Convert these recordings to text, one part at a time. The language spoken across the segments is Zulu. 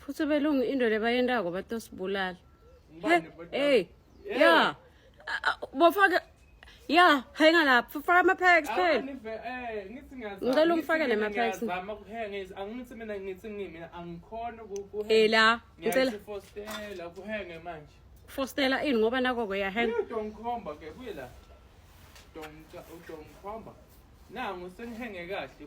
futhi belungu into lebayendako batosibulala hey ya bofake ya hanga lapho faka ama-pax phela ngicela ungifake nema-pax ela ngicela fostela ini ngoba nako-ke yahanga nangu sengihenge kahle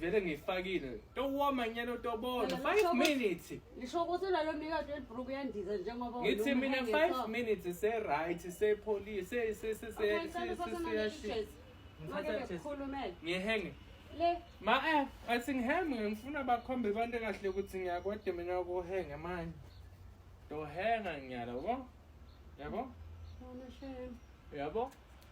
vele ngiyifakile towoma nyana utobona 5 minutes lisho ukuthi lalo mikade elibruku yandiza njengoba ngithi mina 5 minutes se right se police se se se se se ngihenge le ma eh athi ngihenge ngifuna bakhombe abantu kahle ukuthi ngiyakwade mina ukuhenge manje ndohenga ngiyala yabo yabo yabo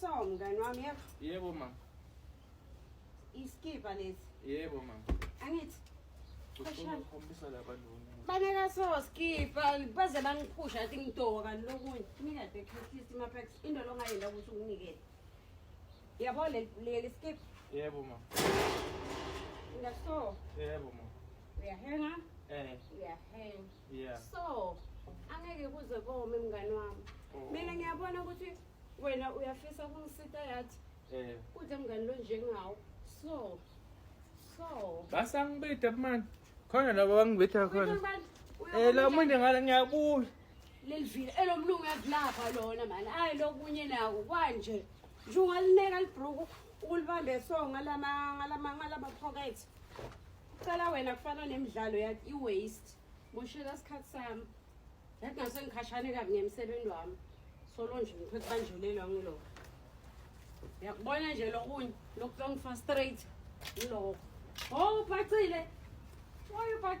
So mngani wami yebo. Yebo mama. Iskipa lesi. Yebo mama. Angithi ukhombisa laba lona. Baneka so skipa baze bangiphusha athi ngitoka kanti lokunye. Mina the catalyst ma packs into longayenda ukuthi unginikele. Yabo le le skip. Yebo mama. Ngaso. Yebo mama. Uyahenga? Eh. Uyahenga. yeah. so angeke kuze kome mngane wami oh. mina ngiyabona ukuthi wena uyafisa kungisita yathi eh. kude mngane lo njengawo so so basangibida mani khona laba bangibitha khona um la muntu ngala ngiyabuya lelivile elomlungu yakulapha lona mani ayi lokunye nawo kwanje nje ungalineka libruku ukulibambe so ngalama-pocket cela wena kufana nemidlalo yakho i-waste Moshela isikhathi sami. Yathi ngase ngikhashane kabi ngemsebenzi wami. Solo nje ngikho kubanjelelwa ngilo. Yakubona nje lokunye lokuhlongifa straight ngiloko. Oh, ubhacile. Why you back?